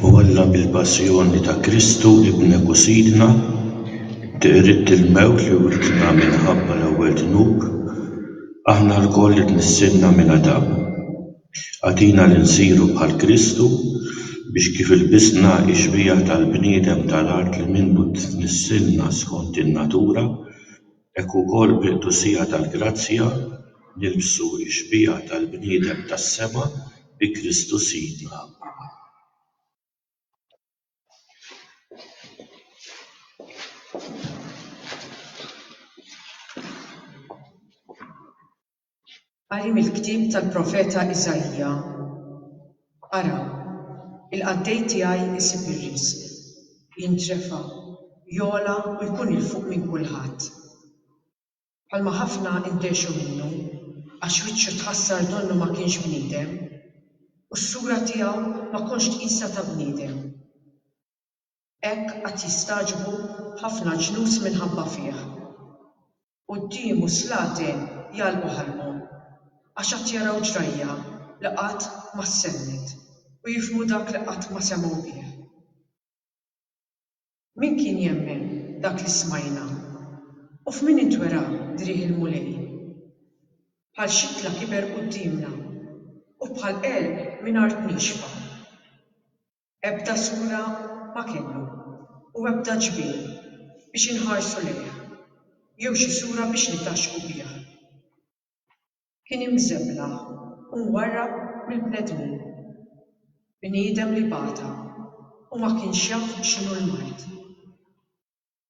U Alla mill-passjoni ta' Kristu Ibnek u Sidna, tqirrid il-mewt li writna minħabba l-ewwel dnub, aħna lkoll qed nistenna minn Adam. Agħtina li nsiru bħal Kristu, biex kif ilbisna x-xbieha tal-bniedem ta' l-art li minnu tnissilna skont in-natura, hekk ukoll bil-qdusija tal-grazzja nilbsu x-xbieha tal-bniedem tas-sema bi Kristu Sidna. Qari mill-ktieb tal-profeta Iżaija, Ara, il-qaddej tiegħi jsib ir-riżq, jintrefa', jogħla u jkun 'il fuq minn kulħadd. Bħalma ħafna ndehxu minnu, għax wiċċu tħassar donnu ma kienx bniedem, u s-sura tiegħu ma kontx tqisha ta' bniedem. Hekk għad jistagħġbu ħafna ġnus minħabba fih. Quddiemu s-slaten jagħlqu ħalqhom, għax għad jaraw ġrajja li qatt ma ssemmiet, u jifhmu dak li qatt ma semgħu bih. Min kien jemmen dak li smajna? U f'min intwera driegħ il-Mulej? Bħal xittla kiber quddiemna, u bħal għelq minn art niexfa. Ebda sura ma kellhom, u ebda ġbien biex inħarsu lejh, jew xi sura biex nitgħaxxqu biha. Kien imżeblaħ u mwarrab mill-bnedmin. Bniedem li bata u ma kienx jaf x'inhu l-mard.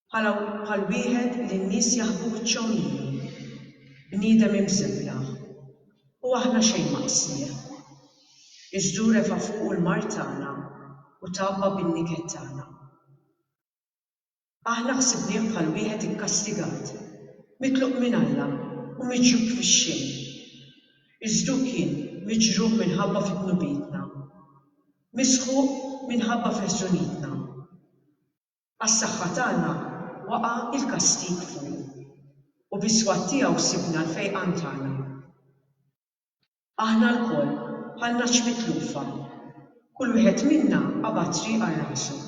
Bħala bħal wieħed li n-nies jaħbu wiċċhom miegħu. Bniedem imżeblaħ. U aħna xejn ma qsnieh. Iżdu refa' fuqu l-mard tagħna u tgħabba bin-niket tagħna. Aħna ħsibnieh bħal wieħed ikkastigat, mitluq minn Alla u miġjub fix-xejn. Iżdu kien miġruħ minħabba fi dnubietna. Misħuq minħabba fi ħżunietna. Għas-saħħa tagħna waqa' l-kastig fuqu, u bis-swat tiegħu sibna l-fejqan tagħna. Aħna lkoll bħal nagħaġ mitlufa, kull wieħed minna qabad triq għal rasu.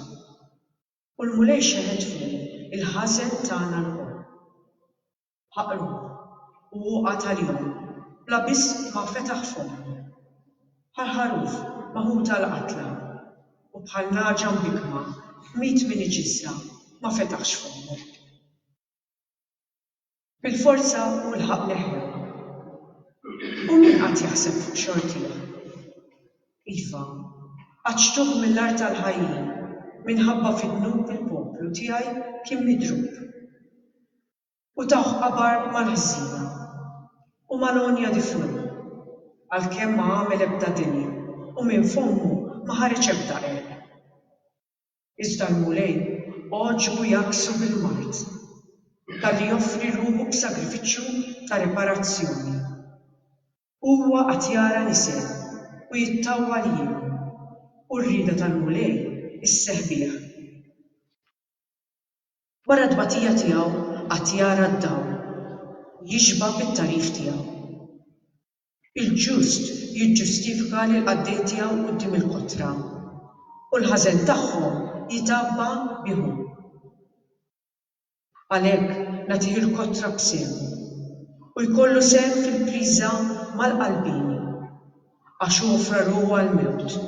U l-Mulej xeħet fuqu l-ħażen tagħna lkoll. Ħaqru, u hu qagħad għalihom, bla biss ma fetaħ fommu. Bħal ħaruf maħut għall-qatla, u bħal nagħġa mbikkma tmiet minn iġissha, ma fetaħx fommu. Bil-forza hu lħaq leħja. U min qagħad jaħseb fuq xortih? Iva, għaġtuh mill-art tal-ħajjin, minħabba fid-dnub il-poplu tiegħi kien midrub. u tawh qabar mal-ħżina u mal-għonja di fluh, għalkemm ma għamel ebda deni u minn fommu ma ħareġ ebda għerq. Iżda l-Mulej għoġbu jgħakksu bil-mard, talli joffri ruħu b'sagrifiċċju ta' riparazzjoni. Huwa qagħad jara l-isel u jittawwa li jgħin, u r-rieda tal-Mulej isseħħ bih. Wara t-tbatija tiegħu għad jara d-dawl u jixba' bit-tagħrif tiegħu. Il-ġust jiġġustifika lill-qaddej tiegħu quddiem il-kotra, u l-ħażen tagħhom jitgħabba bihom. Għalhekk nagħtih il-kotra b'sehmu, u jkollu sehem fil-priża mal-qalbieni, għax hu offra ruħu għall-mewt,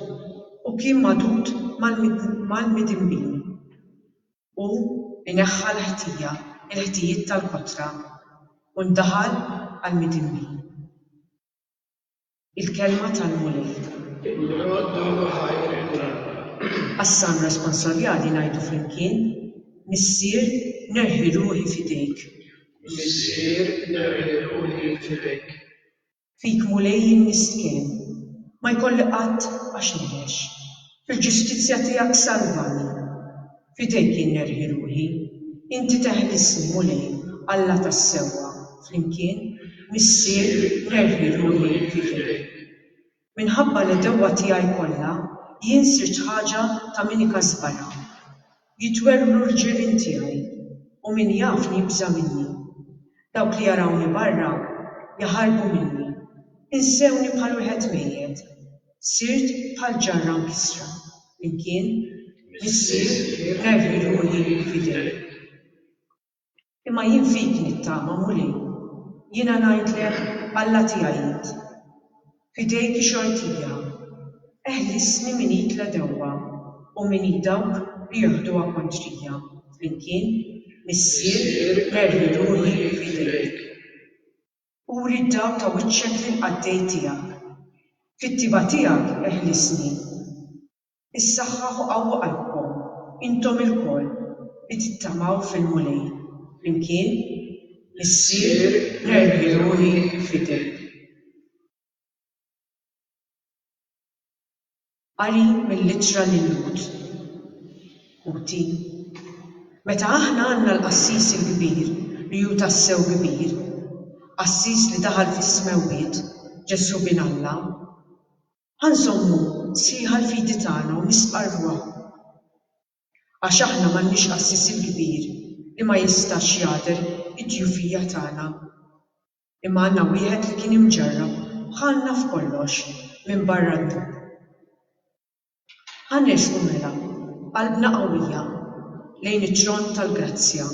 u kien magħdud mal-midinbin. Hu jneħħa l-ħtija, il-ħtijiet tal-kotra, u ndaħal għall-midinbi. Il-kelma tal-Mulej. Il-qrod nagħmlu ħajr il-Mulej. Għas-San Responsoriali ngħidu flimkien, Missier nerħi ruħi f'idejk. Missier nerħi ruħi f'idejk. Fik Mulej jien miskin, ma jkolli qatt għax ngħix, fil-ġustizzja tiegħek salvani. F'idejk jien nerħi ruħi, inti teħlisni Mulej Alla tas-sewwa, flimkien, Missier, nerħi ruħi f'idejk. Minħabba l-għedewwa tiegħi kollha, jien sirt ħaġa ta' min ikażbarha. Jitwerwru l-ġirien tiegħi, u min jafni jibża' minni. Dawk li jarawni barra jaħarbu minni, insewni bħal wieħed mejjet. Sirt bħal ġarra mkissra, flimkien, Missier, nerħi ruħi f'idejk. Imma jien fik nittama, Mulej. Jiena ngħidlek, Alla tiegħi int. F'idejk ix-xortija. Eħlisni minn id l-għedewwa u minn id dawk li joħduha kontrija. Flimkien, Missier, nerħi ruħi f'idejk. Uri d-dawl ta' wiċċek lill-qaddej tiegħek. Fit-tibgħa tiegħek eħlisni. Issaħħaħ u qawwa qalbkom, intom ilkoll li tittamaw fil-Mulej, flimkien, Missier, nerħi ruħi f'idejk. Qari mill-Ittra lil-Lhud Għoti, Meta aħna għandna l-qassis il-kbir li hu tassew kbir, qassis li daħal fis-smewwiet, Ġesù bin Alla, Ħa nżommu sħiħa l-fidi tagħna u nisqarruha. Għax aħna m'għandniex qassis il-kbir li ma jistax jagħder id-djufija tagħna. Imma għandna wieħed li kien imġarrab bħalna f'kollox minbarra d-dnub. Ħa nersqu mela b'qalbna qawwija lejn it-tron tal-grazzja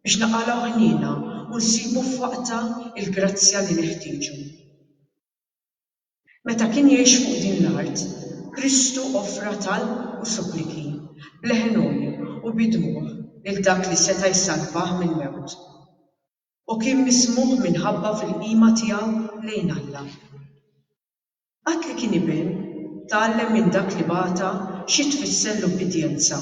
biex naqalgħu ħniena u nsibu f'waqtha l-grazzja li neħtieġu. Meta kien jgħix fuq din l-art, Kristu offra talb u suppliki, b'leħen-għoli u bi dmugħ lil dak li seta' jsalvah mill-mewt. Hu kien mismugħ minħabba fil-qima tiegħu lejn Alla. Qatt li kien iben, tgħallem minn dak li bagħta xi tfisser l-ubbidjenza.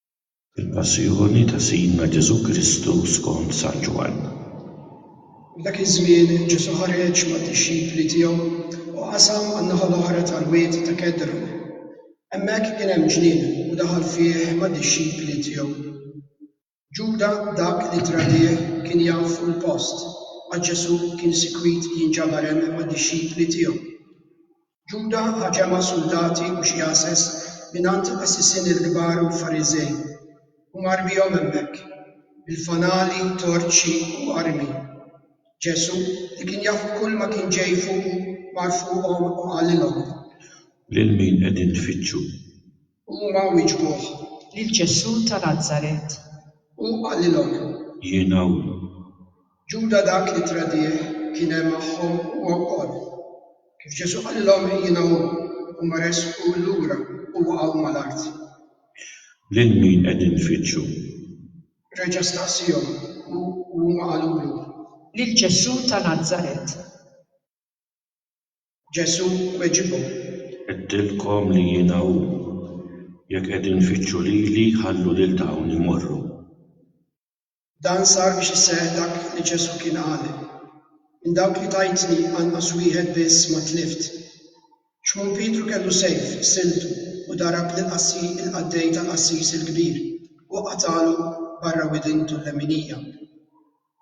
Il-Passjoni ta' Sidna Ġesù Kristu skont San Ġwann. F'dak iż-żmien Ġesù ħareġ mad-dixxipli tiegħu u qasam għan-naħa l-oħra tal-Wied ta' Kedron. Hemmhekk kien hemm ġnien u daħal fih mad-dixxipli tiegħu. Ġuda dak li tradih kien jaf fuq il-post għax Ġesù kien sikwit jinġabar hemm mad-dixxipli tiegħu. Ġuda ħa ġemgħa suldati u xi għases mingħand qassisin il-kbar u l-Fariżej, u mar bihom hemmhekk, bil-fanali, torċi u armi. Ġesù, li kien jaf kull ma kien ġej fuqu, mar fuqhom u qalilhom. Lil min qegħdin tfittxu? Huma wieġbuh, Lil Ġesù ta' Nazaret. Hu qalilhom. Jien hawn. Ġuda dak li tradih kien hemm magħhom huwa wkoll. Kif Ġesù qalilhom, Jiena hu, huma resqu lura u waqgħu mal-art. Lil min qegħdin tfittxu? Reġa' staqsiehom hu u huma qalulu. Lil Ġesù ta' Nazaret. Ġesù weġibhom. Għedtilkom li jiena hu. Jekk qegħdin tfittxu lili, ħallu lil dawn imorru. Dan sar biex iseħħ dak li Ġesù kien qal, Minn dawk li tajtni anqas wieħed biss ma tlift. Xmun Pietru kellu sejf f'siltu u darab lill-qassi il-qaddej tal-qassis il-kbir u qatagħlu barra widintu l-leminija.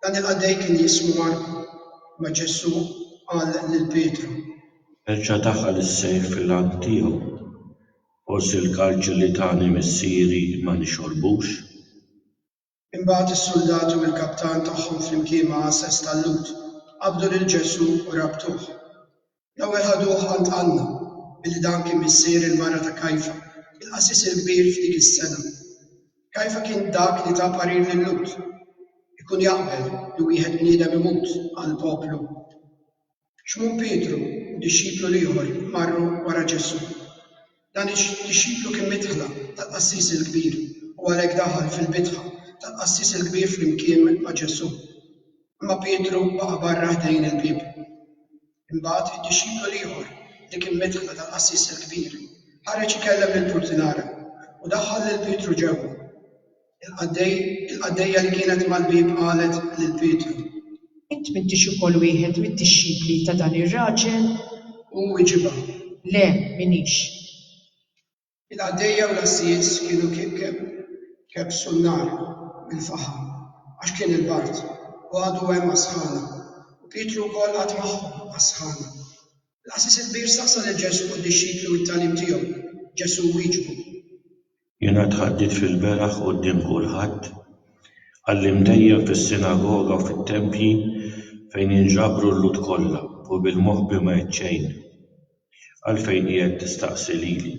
Dan il-qaddej kien jismu Marku. Ma Ġesù qal lil Pietru. Erġa' daħal is-sejf fil-għan tiegħu. Forsi l-kalċi li tani missieri ma nixorbux? Imbagħad is-suldati u l-kaptan tagħhom flimkien ma' għases tal-Lhud qabdu lil Ġesù u rabtuh. L-ewwel ħaduh għand Għanna, billi dan kien missier il-mara ta' Kajfa, il-qasis il-kbir f'dik is-sena. Kajfa kien dak li ta parir lil Lut, Ikun jaqbel li wieħed bniedem imut għall-poplu. Xmun Pietru u dixxiplu l-ieħor marru wara Ġesù. Dan id-dixxiplu kien midħla tal-qassis il-kbir u għalhekk daħal fil-bitħa tal-qassis il-kbir flimkien ma' Ġesù. Imma Pietru baqa' barra ħdejn il-bieb. Imbagħad id-dixxiplu l-ieħor li kien midħla tal-qassis il-kbir ħareġ ikellem lill-purtinara u daħħal lil Pietru ġewwa. Il-qaddejja li kienet mal-bieb qalet lil Pietru. Int m'intix ukoll wieħed mid-dixxipli ta' dan ir-raġel? Hu wiġibha. Le, m'iniex. Il-qaddejja u l-għassies kienu kebbsu n-nar mill-faħam għax kien il-bard u għadu hemm għas-sħana, u Pietru wkoll qagħad magħhom għas-sħana. Il-qassis il-kbir staqsa lil Ġesù u d-dixxipli u t-tagħlim tiegħu. Ġesù wieġbu. Jiena tħaddiet fil-beraħ quddiem kulħadd, għallimt dejjem fis-sinagoga u fit-tempji fejn inġabru l-Lhud kollha u bil-moħbi ma għidt xejn. Għalfejn qiegħed tistaqsi lili?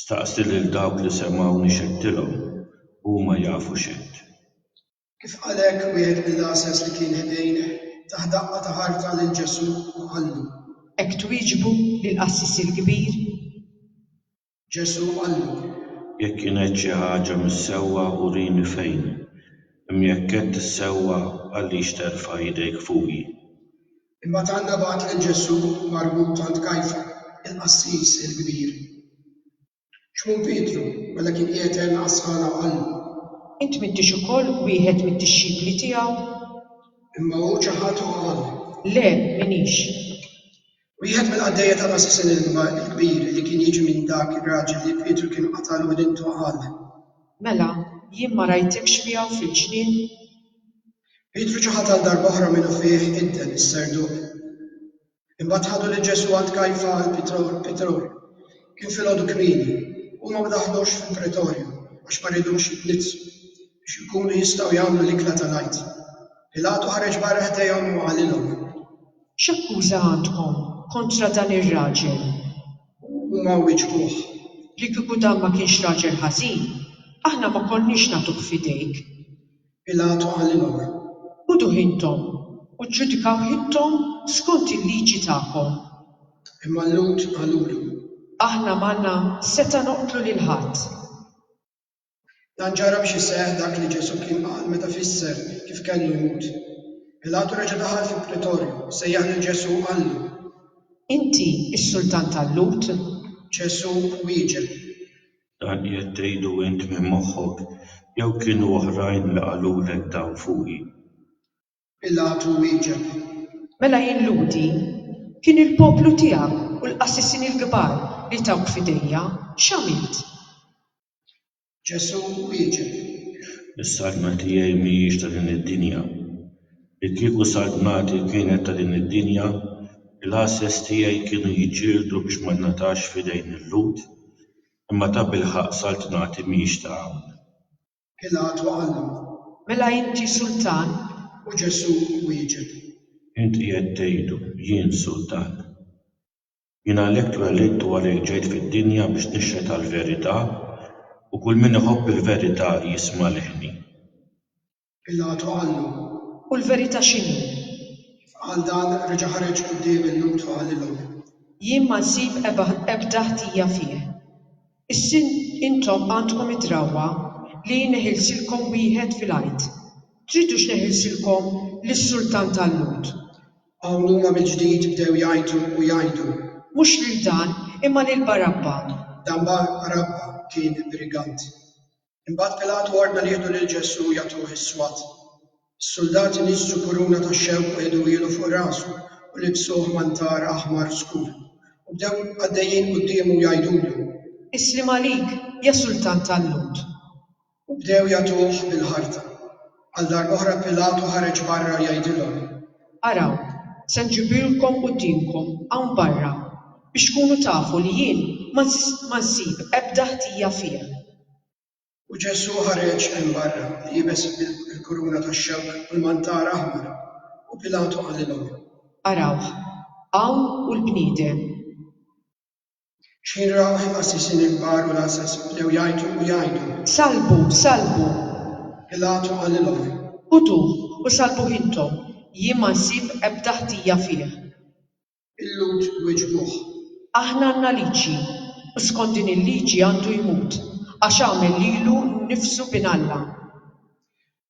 Staqsi lil dawk li semgħuni x'għedtilhom, huma jafu x'għedt. Kif qal hekk wieħed mill-għasas li kien ħdejh, tah daqqa ta' ħarta lil Ġesù u qallu. Hekk twieġbu lill-qassis il-kbir? Ġesù qallu, Jekk jien għedt xi ħaġa mhix sewwa, urini fejn, imma jekk għedt is-sewwa, għaliex terfa' idejk fuqi? Imbagħad Anna bagħat lil Ġesù marbut għand Kajfa, il-qassis il-kbir. Xmun Pietru, mela kien qiegħed hemm għas-sħana u qallu. Int m'intix ukoll wieħed mid-dixxipli tiegħu? Imma hu ċaħad u qal. Le, m'iniex. Wieħed mill-qaddejja ta' Massa Sinilva l-Kbir li kien jiġi minn dak ir-raġel li Pietru kien qatgħal u dintu qal. Mela, jien ma rajtikx miegħu fil-ġnien? Pietru ġie ħatal darb'oħra minufih idden is-serduq. Imbagħad ħadu lil Ġesù għand Kajfa għall-Pitror. Kien filgħodu kmieni. Huma ma daħlux fil-Pretorju għax ma ridux jitniġġsu, biex ikunu jistgħu jagħmlu l-ikla tal-Għid. Pilatu ħareġ barra ħdejhom u qalilhom. X'akkuża għandkom kontra dan ir-raġel? U huma wieġbuh, Li kieku dan ma kienx raġel ħażin, aħna ma konniex nagħtuh f'idejk. Pilatu qalilhom, Ħuduh intom u ġġudikawh intom skont il-liġi tagħkom. Imma l-Lhud qalulu. Aħna m'għandna setgħa noqtlu lil ħadd. Dan ġara biex iseħħ dak li Ġesù kien qal meta fisser kif kellu jmut. Pilatu reġa' daħal fil-Pretorju, sejjaħ lil Ġesù u qallu. Inti s-Sultan tal-Lhud? Ġesù wieġeb. Dan qiegħed tgħidu int minn moħħok, jew kienu oħrajn li qalulek dan fuqi? Pilatu wieġeb. Mela jien Lhudi? Kien il-poplu tiegħek u l-qassisin il-kbar li tawk f'idejja. X'għamilt? Ġesù wieġeb, Is-saltna tiegħi mhijiex ta' din id-dinja. Li kieku saltnati kienet ta' din id-dinja, il-għasses tiegħi kienu jiġġieldu biex ma ngħatax f'idejn il-Lhud, imma tabilħaqq saltnati mhix ta' hawn. Pilatu qallu, Mela inti sultan? U Ġesù wieġeb. Inti qed tgħidu, Jien sultan. Jien għalhekk twellidt u għalhekk ġejt fid-dinja biex nixhed għall-verità, u kull min iħobb il-verità jisma' leħni. Pilatu qallu, U l-verità x'inhi? Kif qal dan, reġa' ħareġ quddiem il-Lhud u qalilhom. Jien ma nsib ebda ħtija fih. Is-Sin Intom għandkom id-drawwa li jneħilsilkom wieħed fil-Għid. Tridux neħilsilkom lis-sultan tal-Lhud? Hawn huma mill-ġdid bdew jgħajtu u jgħidu. Mhux lil dan, imma lil Barabba! Dan Barabba kien brigant. Imbagħad Pilatu ordna li jieħdu lil Ġesù u jagħtuh is-swat. Is-suldati niżżu kuruna ta' xewk u ħeduhielu fuq rasu u libsuh mantar aħmar skur, u bdew għaddejjin quddiemu u jgħidulu. Isliem għalik, ja Sultan tal-Lhud! U bdew jagħtuh bil-ħarta. Għal darba oħra Pilatu ħareġ barra jgħidilhom. Araw, se nġibilkom quddiemkom hawn barra biex tkunu tafu li jien ma nsib ebda ħtija fih. U Ġesù ħareġ hemm barra, liebes il-kuruna tax-xewk u l-mantar aħmar. U Pilatu qalilhom. Arawh, hawn hu l-bniedem! Xieraq għal qassisin il-kbar u l-għasas bdew jgħajtu u jgħidu. Sallbu! Sallbu! Pilatu qalilhom. Ħuduh u sallbuh intom, jien ma nsib ebda ħtija fih. Il-Lhud wiġbuh. Aħna għandna liġi, u skont din il-liġi għandu jmut, għax għamel lilu nnifsu bin Alla.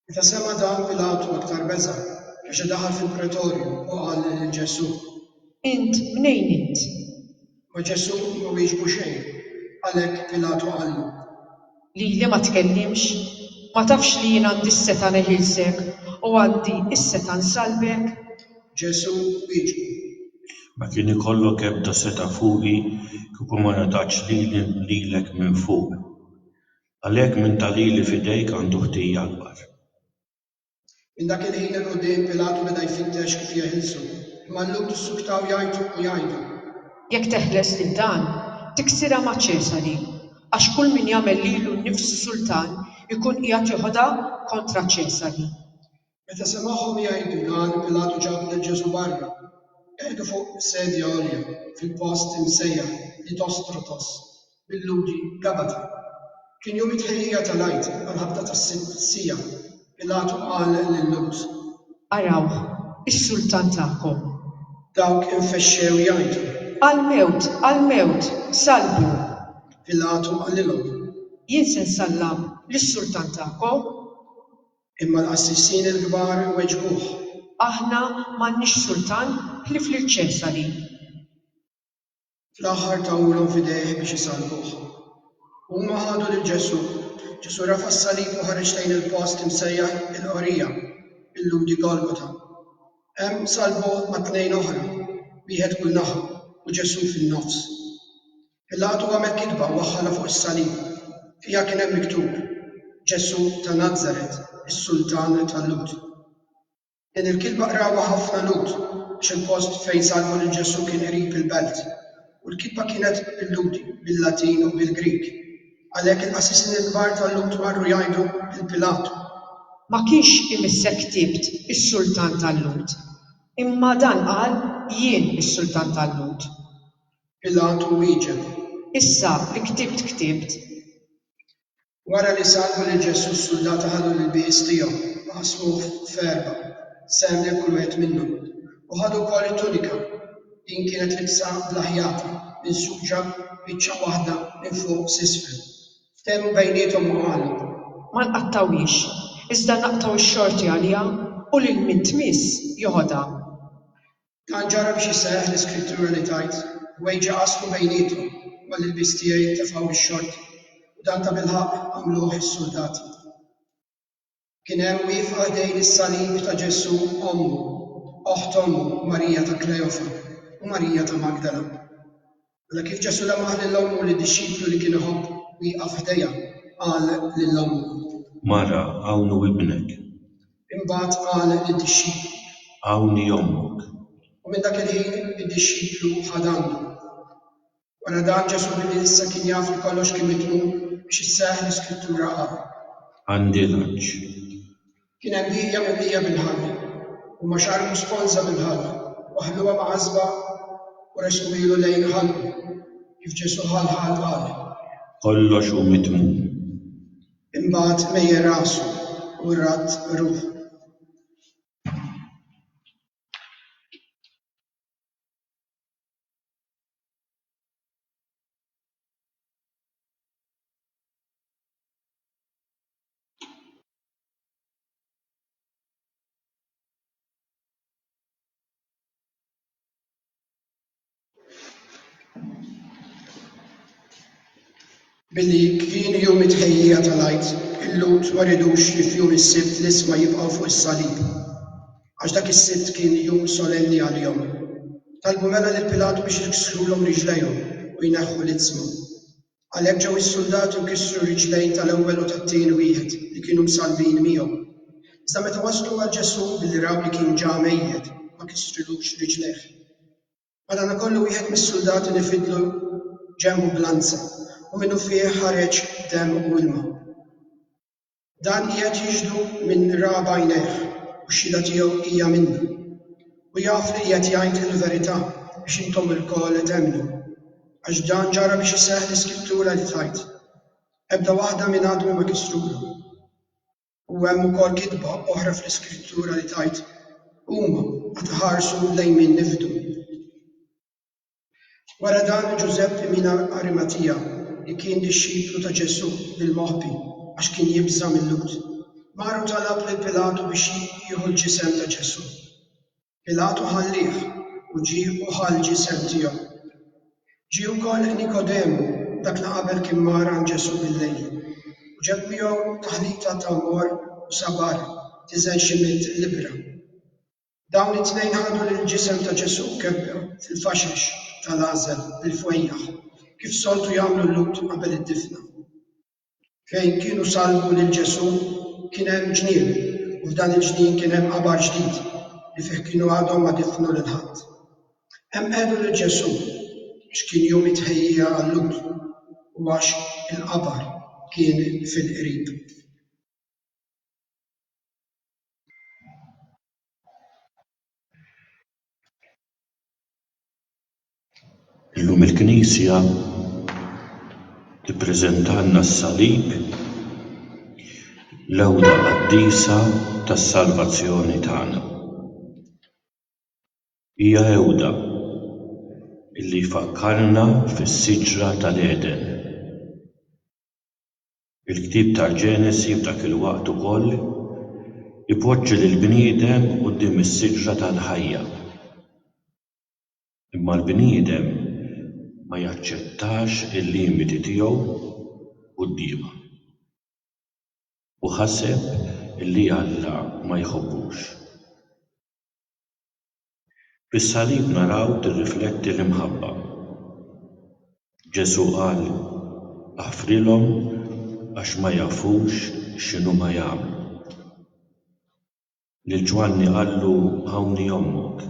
Meta sema' dan Pilatu aktar beża', reġa' daħal fil-Pretorju u qal lil Ġesù. Int mnejn int? Ma Ġesù ma wieġbu xejn, għalhekk Pilatu qallu. Lili ma tkellimx? Ma tafx li jien għandi s-setgħa neħilsek u għandi s-setgħa nsallbek? Ġesù wieġbu. Ma kien ikollok ebda setgħa fuqi kieku ma ngħatatx lili lilek minn fuq. Għalhekk min ta lili f'idejk għandu ħtija akbar. Minn dak il-ħin 'il quddiem Pilatu beda jfittex kif jeħilsu, imma llum tissuktaw jgħajtu u jgħidu. Jekk teħles lil dan, tiksirha ma' Ċesari, għax kull min jagħmel lilu nnifsu sultan ikun qiegħed joħodha kontra Ċesari. Meta semagħhom jgħidu dan, Pilatu ġab lil Ġesù barra, qiegħdu fuq sedja għolja fil-post imsejjaħ Litostrotos, bil-Lhudi Gabata. Kien jum it-tħejjija tal-Għid, għall-ħabta tas-sitt siegħa. Pilatu qal lil-Lhud. Arawh, is-Sultan tagħkom! Dawk infexxew jgħajtu. Għall-mewt! Għall-mewt! Sallbu! Pilatu qalilhom. Jien se nsallam lis-Sultan tagħkom? Imma l-qassisin il-kbar weġbuh. Aħna m'għandniex sultan ħlief lil Ċesari. Fl-aħħar tawulhom f'idejh biex isalvuh. Huma ħadu lil Ġesù. Ġesù rafa' s-salib u ħareġ lejn il-post imsejjaħ il-Qorija, bil-Lhudi Golgota. Hemm salbuh ma' tnejn oħra, wieħed kull naħa u Ġesù fin-nofs. Pilatu għamel kitba u waħħalha fuq is-salib. Fiha kien hemm miktub, Ġesù ta' Nazaret, is-Sultan tal-Lhud. Din il-kitba qrawha ħafna Lhud għax il-post fejn salbu lil Ġesù kien qrib il-belt, u l-kitba kienet bil-Lhudi, bil-Latin u bil-Grieg. Għalhekk il-qassisin il-kbar tal-Lhud marru jgħidu lil Pilatu. Ma kienx imissek ktibt is-Sultan tal-Lhud, imma dan qal, Jien is-Sultan tal-Lhud. Pilatu wieġeb. Issa li ktibt ktibt. Wara li sallmu lil Ġesù s-suldati ħadu l-ilbies tiegħu u qasmuh f'erbgħa, sehem lil kull wieħed minnhom. U ħadu wkoll it-tunika. Din kienet libsa bla ħjata, minsuġa biċċa waħda minn fuq s'isfel. Ftehmu bejniethom u qalu. Ma nqattgħuhiex, iżda naqtgħu x-xorti għaliha u lil min tmiss joħodha. Dan ġara biex isseħħ l-iskrittura li tgħid, Ħwejġi qasmu bejniethom, u għall-ilbies tiegħi ntefgħu bix-xorti. U dan tabilħaqq għamluh is-suldati. Kien hemm wieqfa ħdejn is-salib ta' Ġesù ommu, oħt ommu, Marija ta' Kleofa, u Marija ta' Magdala. Mela kif Ġesù lamaħ lil ommu lid-dixxiplu li kien iħobb wieqaf ħdejha, qal lil ommu. Mara, hawn hu ibnek. Imbagħad qal lid-dixxiplu. Hawn hi ommok. U minn dak il-ħin id-dixxiplu ħa dannu. Wara dan Ġesù billi issa kien jaf li kollox kien mitmum biex isseħħ l-iskrittura qal. Għandi lanċ. Kien hemm bieqja mimlija bil-ħall, huma xarbu sponża mill-ħall u ħalluha mgħażżba u resquhielu lejn ħalqu, kif Ġesù ħall ħall qal. Kollox hu mitmum. Imbagħad mejja rasu u radd ruħu. Billi kienu jum it-tħejjija tal-Għid, il-Lhud ma ridux li f'jum is-Sibt l-isma jibqgħu fuq is-salib, għax dak is-Sibt kien jum solenni għalihom. Talbu mela lil Pilatu biex jiksrulhom riġlejhom u jneħħu l-isma. Għalhekk ġew is-suldati u kissru r-riġlejn tal-ewwel u tat-tieni wieħed li kienu msallbin miegħu. Iżda meta waslu għal Ġesù, billi raw li kien ġa mejjet, ma kissrilux riġlejh. Madanakollu wieħed mis-suldati li fidlu ġenbu b'lanza, u minnufih ħareġ demm u ilma. Dan qiegħed jixhdu minn ra b'għajnejh u x-xhieda tiegħu hija minni. U jaf li qiegħed jgħid il-verità biex intom ilkoll temmnu. Għax dan ġara biex iseħħ l-Iskrittura li tgħid, Ebda waħda minn għadmi ma kisrulhom. U hemm ukoll kitba oħra fl-Iskrittura li tgħid, Huma għad iħarsu lejn min nifdu. Wara dan Ġużeppi mina Arimatija li kien dixxiplu ta' Ġesù bil-moħbi għax kien jibża' mil-Lhud, mar u talab lil Pilatu biex jieħu l-ġisem ta' Ġesù. Pilatu ħallieh u ġie u ħa l-ġisem tiegħu. Ġie wkoll Nikodemu dak li qabel kien mar għand Ġesù bil-lejl u ġab miegħu taħlita ta' mor u sabar tiżen xi mitt libbra. Dawn it-tnejn ħadu lill-ġisem ta' Ġesù mkebbel fil-faxex ta' l-għażel bil-fwejjaħ, kif soltu jagħmlu l-Lhud qabel id-difna. Fejn kienu sallbu lil Ġesù kien hemm ġnien u f'dan il-ġnien kien hemm qabar ġdid li fih kienu għadhom ma difnu lil ħadd. Hemm qegħdu lil Ġesù għax kien jum it-tħejjija għal-Lhud u għax il-qabar kien fil-qrib. Illum il-Knisja tippreżentalna s-Salib, l-għewda qaddisa tas-salvazzjoni tagħna. Hija għewda li tfakkarna fis-siġra tal-Għeden. Il-ktieb tal-Ġenesi f'dak il-waqt ukoll ipoġġi lill-bniedem quddiem is-siġra tal-ħajja. Imma l-bniedem ma jaċċettax il-limiti tiegħu quddiemha u ħaseb li Alla ma jħobbux. Fis-salib naraw tirrifletti l-imħabba. Ġesù qal, Aħfrilhom għax ma jafux x'inhuma jagħmlu. Lil Ġwanni qallu Hawnni ommok.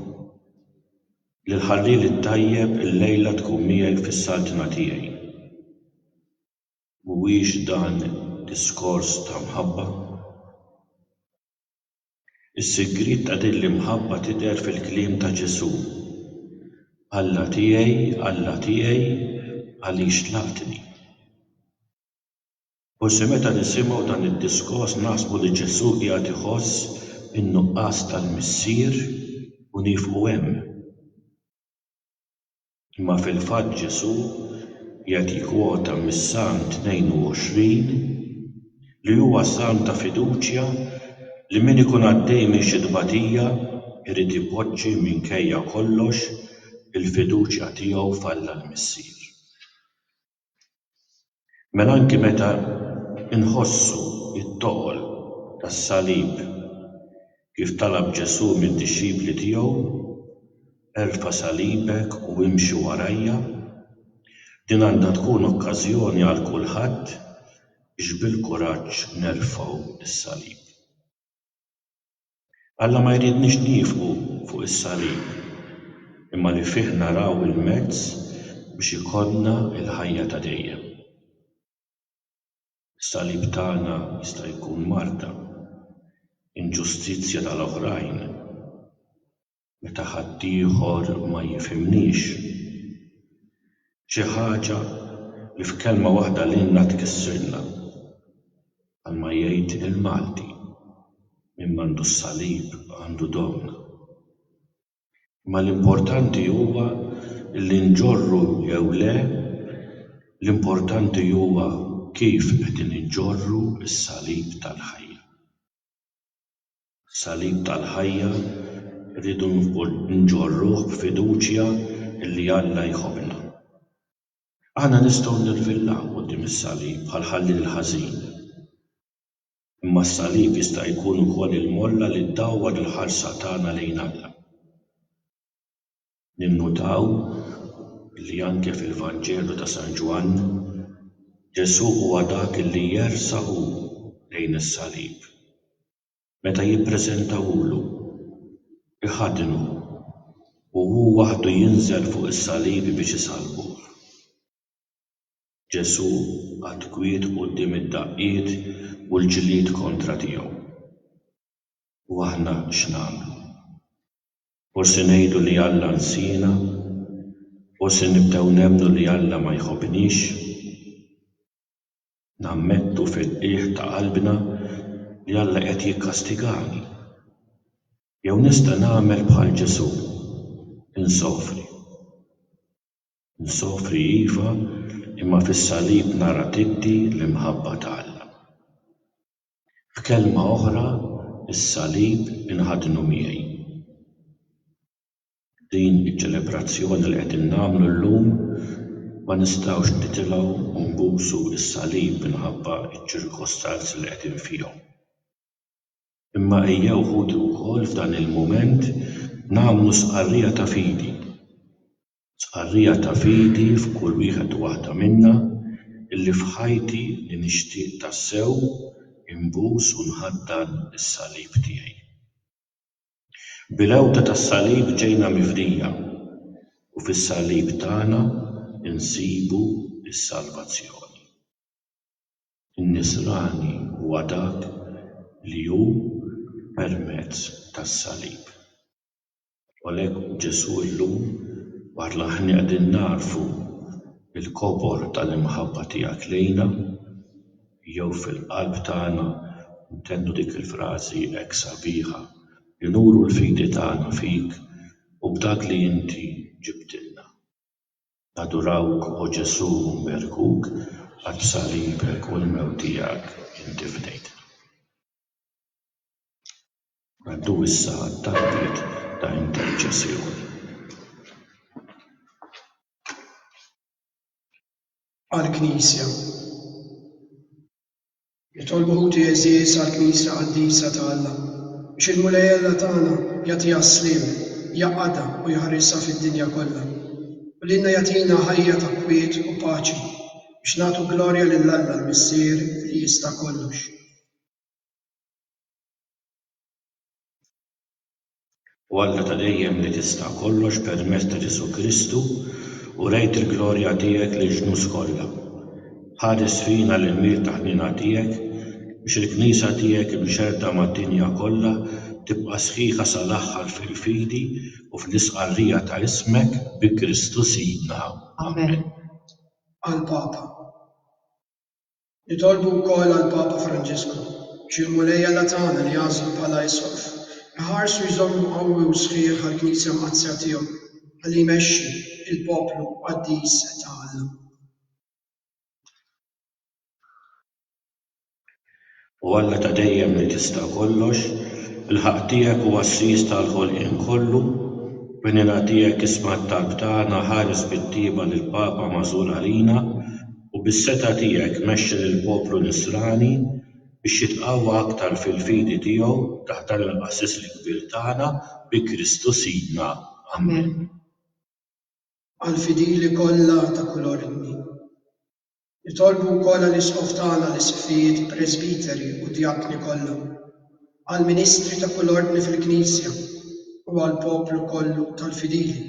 Lill-ħalliel it-tajjeb illejla tkun miegħi fis-saltna tiegħi. Mhuwiex dan diskors ta' mħabba? Is-sigriet ta' din l-imħabba tidher fil-kliem ta' Ġesù, Alla tiegħi, Alla tiegħi, għaliex tlaqtni? Forsi meta nisimgħu dan id-diskors naħsbu li Ġesù qiegħed iħoss in-nuqqas tal-Missier u niefqu hemm. Imma fil-fatt Ġesù jagħti kwota mis-Salm 22 li huwa salm ta' fiduċja li min ikun għaddej minn xi tbatija jrid ipoġġi minkejja kollox il-fiduċja tiegħu f'Alla l-Missier. Mela anki meta nħossu t-toqol tas-salib kif talab Ġesù mid-dixxipli tiegħu, Erfa' salibek u imxi warajja, din għandha tkun okkażjoni għal kulħadd biex bil-kuraġġ nerfgħu s-salib. Alla ma jridniex niefqu fuq is-salib, imma li fih naraw il-mezz biex ikollna l-ħajja ta' dejjem. Is-salib tagħna jista' jkun marda, inġustizzja tal-oħrajn, meta ħaddieħor ma jifhimnix. Xi ħaġa li f'kelma waħda lilna tkissirna. Bħalma jgħid il-Malti, min m'għandu s-salib għandu domna. Imma l-importanti huwa li nġorru jew le, l-importanti huwa kif qegħdin inġorru s-salib tal-ħajja. Salib tal-ħajja rridu nġorruh b'fiduċja li Alla jħobbna. Aħna nistgħu nirvillaw quddiem is-salib bħal ħallieq ħażin. Imma s-salib jista' jkun ukoll il-molla li ddawwar il-ħarsa tagħna lejn Alla. Ninnutaw li anke fil-Vanġelu ta' San Ġwann, Ġesù huwa dak li jersa' hu lejn is-salib. Meta jippreżentawhulu, iħaddnu u hu waħdu jinżel fuq is-salib biex isallbuh. Ġesù qagħad kwiet quddiem id-daqqiet u l-ġlied kontra tiegħu. U aħna x'nagħmlu? U se ngħidu li Alla nsiena? U se nibdew nemmnu li Alla ma jħobbniex? Nammettu fil-qiegħ ta' qalbna li Alla qed jikkastigani? Jew nista' nagħmel bħal Ġesù, insofri? Nsofri iva, imma fis-salib nara tiddi l-imħabba ta' Alla. F'kelma oħra, is-Salib inħadnu miegħi. Din iċ-ċelebrazzjoni li qegħdin nagħmlu llum ma nistgħux nitilgħu u nbusu s-Salib minħabba ċ-ċirkostanzi li qegħdin fihom. Imma ejjew, ħuti wkoll f'dan il-mument nagħmlu stqarrija ta' fidi. stqarrija ta' fidi f'kull wieħed u waħda minna, illi f'ħajti li nixtieq tassew inbus u nħaddan is-salib tiegħi. Bil-għewda tas-salib ġejna mifdija, u fis-salib tagħna nsibu s-salvazzjoni. In-Nisrani huwa dak li hu permezz tas-salib. U għalhekk Ġesù llum barra aħna qegħdin nagħrfu l-kobor tal-imħabba tiegħek lejna, jew fil-qalb tagħna ntennu dik il-frażi hekk sabiħa li nuru l-fidi tagħna fik u b'dak li inti ġibtilna. Nadurawk, O Ġesù, u nberkuk għall-b'salibek u l-mewt tiegħek inti fdejtna. Ngħaddu issa għat-talbiet ta' interċessjoni. Għall-Knisja Nitolbu ħuti għeżież għall-Knisja qaddisa ta' Alla, biex il-Mulej Alla tagħna jagħtiha s-sliem, jgħaqqadha u jħarisha fid-dinja kollha, u lilna jagħtina ħajja ta' kwiet u paċi, biex nagħtu glorja lil Alla l-Missier li jista' kollox. O Alla ta' dejjem li tista' kollox permezz ta' Ġesù Kristu urejt il-glorja tiegħek lill-ġnus kollha. Ħares fina l-ilmijiet ta' ħniena tiegħek biex il-Knisja tiegħek imxerrda mad-dinja kollha tibqa' sħiħa sal-aħħar fil-fidi u fl-istqarrija ta' ismek bi Kristu Sidna. Amen. Għall-Papa. Nitolbu wkoll għall-Papa Franġisku, biex il-Mulej Alla tagħna li għażlu bħala Isqof, iħarsu jżommu qawwi u sħiħ għall-Knisja Mqaddsa tiegħu, ħalli jmexxi l-poplu qaddis ta' Alla. O Alla ta' dejjem li tista' kollox, il-ħaqq tiegħek hu għassies tal-ħolqien kollu, b'għnina tiegħek isma' t-talb tagħna, ħares bit-tjieba lill-Papa magħżul għalina, u bis-setgħa tiegħek mexxi lill-poplu Nisrani biex jitqawwa aktar fil-fidi tiegħu taħt dan il-Qassis l-Kbir tagħna, bi Kristu Sidna. Amen. Għall-fidili kollha ta' kull ordni. Nitolbu wkoll għall-Isqof tagħna, l-Isqfijiet, Presbiteri u Djakni kollha, għall-ministri ta' kull ordni fil-Knisja u għall-poplu kollu tal-fidili.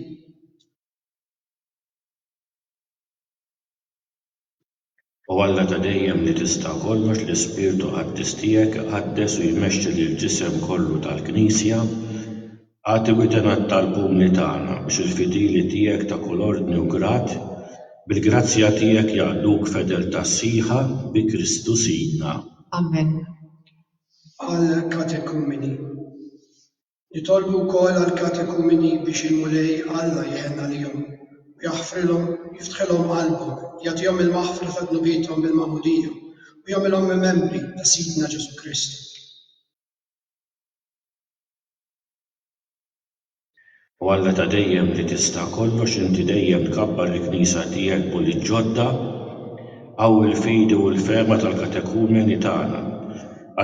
O Alla ta' dejjem li tista' kollox, l-Ispirtu Qaddis tiegħek iqaddes u jmexxi lill-ġisem kollu tal-Knisja, Agħti witenet tal-pumni tagħna, biex il-fidili tiegħek ta' kull ordni u grad, bil-grazzja tiegħek jaqduk f'fedeltà sħiħa bi Kristu Sidna. Amen. Għall-Katekumeni. Nitolbu wkoll għall-katekumeni biex il-Mulej Alla jħenn għalihom, u jaħfrilhom, jiftħilhom qalbhom, jagħtihom il-maħfra ta' dnubiethom bil-magħmudija, u jagħmilhom membri ta' Sidna Ġesù Kristu. O Alla ta' dejjem li tista' kollox inti dejjem tkabbar il-Knisja tiegħek b'ulied ġodda, qawwi l-fidi u l-fehma tal-katekumeni tagħna,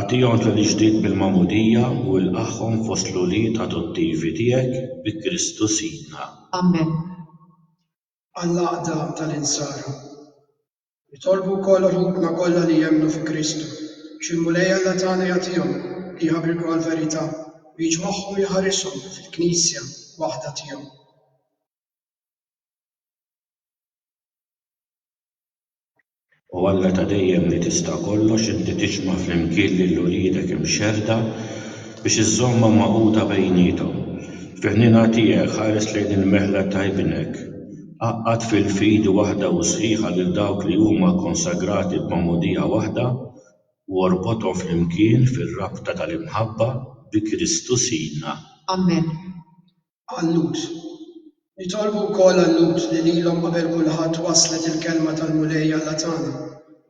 agħtihom twelid ġdid bil-magħmudija u ilqagħhom fost l-ulied adottivi tiegħek bi Kristu Sidna. Amen. Għall-Għaqda tal-Insara. Nitolbu wkoll ruħna kollha li jemmnu fi Kristu biex il-Mulej Alla tagħna jagħtihom li jħabriku għall-verità u jiġmagħhom u jħarishom fil-Knisja waħda tiegħu. O Alla ta' dejjem li tista' kollox, inti tiġma' flimkien lil uliedek imxerrda biex iżżommhom magħquda bejniethom. Fi ħniena tiegħek ħares lejn il-mehla ta' Ibnek Għaqqad fil-fidi waħda u sħiħa lil dawk li huma kkonsagrati b'magħmudija waħda, u orbothom flimkien fir-rabta tal-imħabba bi Kristu Sidna. Ammen. Għal-Lhud. Nitolbu wkoll għal-Lhud li lilhom qabel kulħadd waslet il-Kelma tal-Mulej Alla tagħna.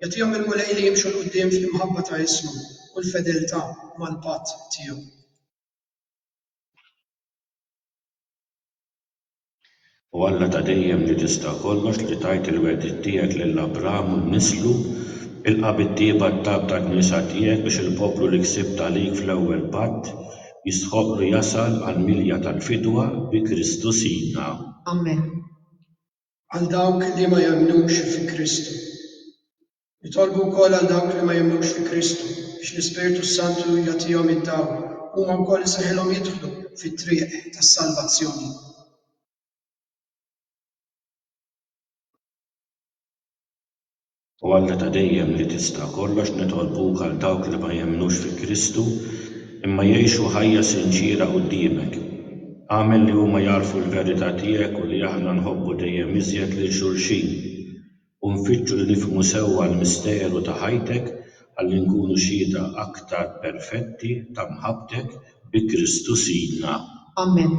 Jagħtihom il-Mulej li jimxu 'l quddiem fl-imħabba ta' ismu u l-fedeltà mal-patt tiegħu. O Alla ta' dejjem li tista' kollox li tajt il-wegħdiet tiegħek lil Abraham u nislu, ilqa' bit-tjieba t-tagħb tal-Knisja tiegħek biex il-poplu li ksibt għalik fl-ewwel patt jistħoqqlu jasal għall-milja tal-fidwa bi Kristu Sidna. Amen. Għal dawk li ma jemmnux fi Kristu. Nitolbu wkoll għal dawk li ma jemmnux fi Kristu biex l-Ispirtu s-Santu jagħtihom id-dawl huma wkoll isirħilhom jidħlu fit-triq tas-salvazzjoni. O Alla ta' dejjem li tista' kollox nitolbuk għal dawk li ma jemmnux fi Kristu imma jgħixu ħajja sinċiera quddiemek. Agħmel li huma jagħrfu l-verità tiegħek u li aħna nħobbu dejjem iżjed lil xulxin. u nfittxu li nifhmu sewwa l-misteru ta' ħajtek ħalli nkunu xhieda aktar perfetti ta' mħabbtek bi Kristu Sidna. Amen.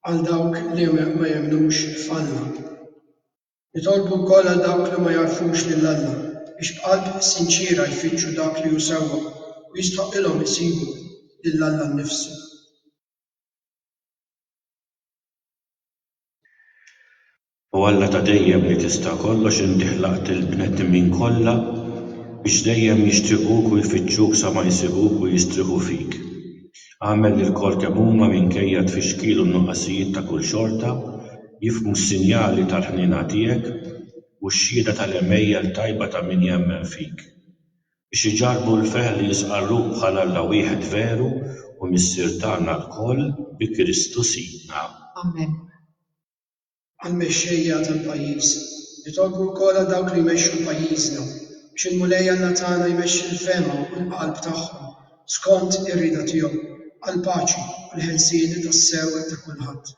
Għal dawk li ma jemmnux f'Alla. Nitolbu wkoll għal dawk li ma jagħrfux lil Alla biex b'qalb sinċiera jfittxu dak li hu sewwa u jistħoqqilhom isibu lil Alla nnifsu. O Alla ta' dejjem li tista' kollox inti ħlaqt lill-bnedmin kollha biex dejjem jixtiequk u jfittxuk sa ma jsibuk u jistrieħu fik. Agħmel li lkoll kemm huma minkejja t-tfixkil u n-nuqqasijiet ta' kull xorta jifhmu s-sinjali tal-ħniena tiegħek u x-xhieda tal-għemejjel tajba ta' min jemmen fik. biex iġarrbu l-ferħ li jistqarruh bħal Alla wieħed veru u Missier tagħna lkoll bi Kristu Sidna. Amen. Għall-mexxejja tal-pajjiż, nitolbu wkoll għal dawk li jmexxu pajjiżna, biex il-Mulej Alla tagħna jmexxi l-fehma u l-qalb tagħhom skont ir-rieda tiegħu, għall-paċi u l-ħelsien tassew ta' kulħadd.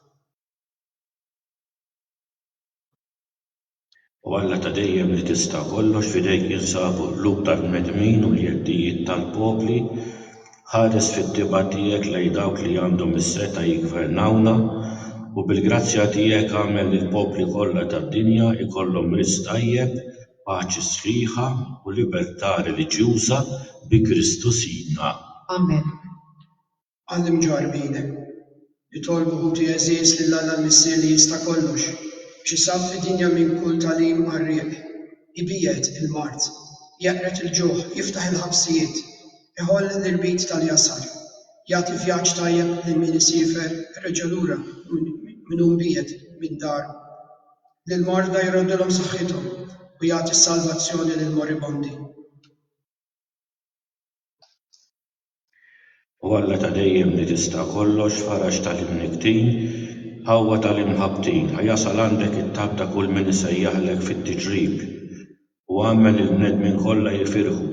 O Alla ta' dejjem li tista' kollox, f'idejk jinsabu l-qlub tal-bnedmin u l-jeddijiet tal-popli, ħares fit-tibgħa tiegħek lejn dawk li għandhom is-setgħa jiggvernawna, u bil-grazzja tiegħek agħmel li l-popli kollha tad-dinja jkollhom riżq tajjeb, paċi sħiħa u libertà reliġjuża bi Kristu Sidna. Amen. Għall-imġarrbi jidher. Nitolbu, ħuti għeżież, lil Alla l-Missier li jista' kollox, biex isabb fid-dinja minn kull tagħlim qarrieq, ibiegħed il-mard, jeqred il-ġuħ, jiftaħ il-ħabsijiet, iħoll l-irbit tal-jasar, jagħti vjaġġ tajjeb lil min isiefer reġa' lura minn hu mbiegħed minn daru. Lill-marda jroddilhom saħħithom u jagħti s-salvazzjoni lill-moribondi. O Alla ta' dejjem li tista' kollox, faraġ ta' l-imnikktin, qawwa ta' l-imħabbtin, a jasal għandek it-tabb ta' kull min isejjaħlek fit-tiġrib, u agħmel lill-bnedmin kollha jifirħu,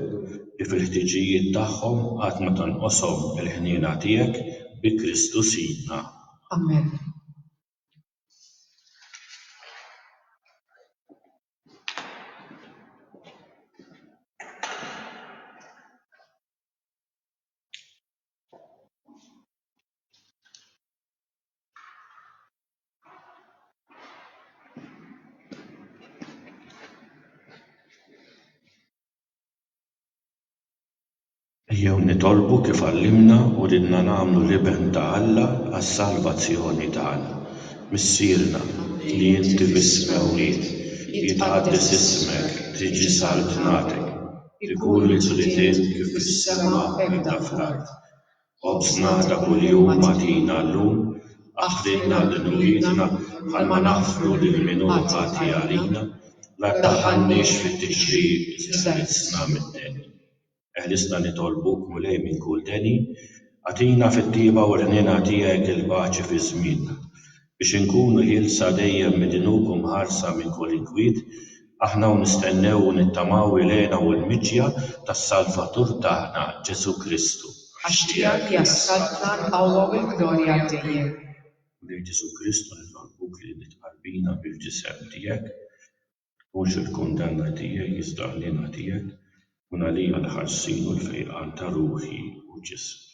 li fil-ħtiġijiet tagħhom qatt ma tonqoshom il-ħniena tiegħek, bi Kristu Sidna. Amen. Ejjew nitolbu kif għallimna u ridna nagħmlu l-Iben ta' Alla għas-salvazzjoni tagħna. Missierna, li inti fis-Smewwiet, jitqaddes ismek, tiġi saltnatek. Ikun mill-ġlidiet kif fis-sema hekk dak fl-art. Ħobżna ta' kuljum agħtina llum, aħfrilna lil uliedna bħalma naħfru lil min hu ħati għalina, la ddaħħalniex fit-tixrid iżda ħilsna mid-deni. Eħlisna nitolbuk, Mulej, minn kull deni, agħtina fit-tjieba u l-ħniena tiegħek il-paċi fi żmienna. Biex inkunu ħielsa dejjem mid-dnub u mħarsa minn kull inkwiet, aħna u nistennew u nittamaw il-hena u l-miġja tas-Salvatur tagħna, Ġesù Kristu. Għax tiegħek ja s-Saltna, l-qawwa u l-glorja għal dejjem. U lil Ġesù Kristu nitolbuk li tqarbina bil-ġisem tiegħek, ma tkunx il-kundanna tiegħi iżda l-hena tiegħek tkun għalija l-ħarsien u l-fejqan ta' ruħi u ġismi.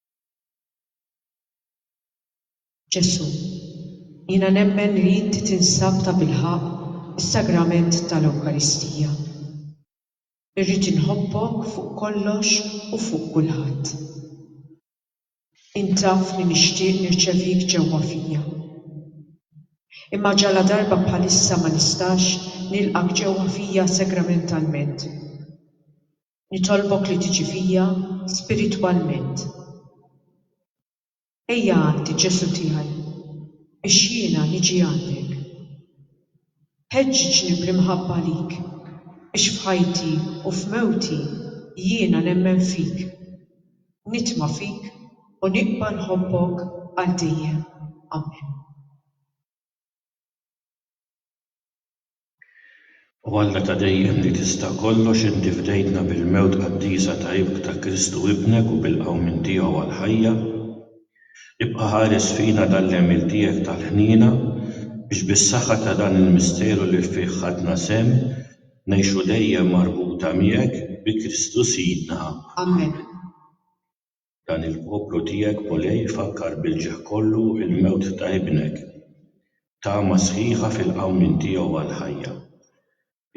Ġesù, jiena nemmen li inti tinsab tabilħaqq fis-Sagrament tal-Ewkaristija. Irrid inħobbok fuq kollox u fuq kulħadd. Int taf li nixtieq nirċevik ġewwa fija. Imma ġaladarba bħalissa ma nistax nilqgħek ġewwa fija sagramentalment. Nitolbok li tiġi fija spiritwalment. Ejja għandi, Ġesù tiegħi, biex jiena niġi għandek. Ħeġġiġni bl-imħabba għalik biex f'ħajti u f'mewti jiena nemmen fik, nitma' fik u nibqa' nħobbok għal dejjem. Amen. O Alla ta' dejjem li tista' kollox inti fdejtna bil-mewt qaddisa ta' Ibk ta' Kristu Ibnek u bil-qawmien tiegħu għall-ħajja. Ibqa' ħares fina dan l-għemil tiegħek tal-ħniena biex bis-saħħa ta' dan il-misteru li fih ħadna sehem ngħixu dejjem marbuta miegħek bi Kristu Sidna. Amen. Dan il-poplu tiegħek Mulej ifakkar bil-ġieħ kollu l-mewt ta' Ibnek, tama sħiħa fil-qawmien tiegħu għall-ħajja.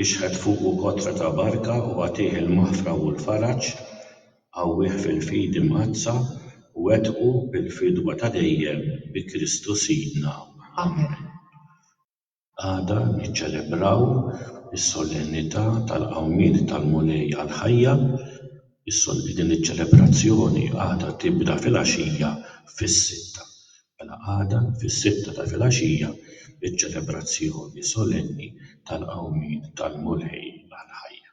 Ixħet fuqu kotra ta' barka u agħtih il-maħfra u l-faraġ, qawwih fil-fidi mqaddsa u wettqu bil-fidwa ta' dejjem bi Kristu Sidna. Amen. Għada niċċelebraw is-Solennità tal-Qawmien tal-Mulej għall-Ħajja. Din iċ-ċelebrazzjoni għadha tibda filgħaxija fis-sitta. Mela għada fis-sitta ta' filgħaxija iċ-ċelebrazzjoni solenni tal-Qawmien tal-Mulej għall-Ħajja.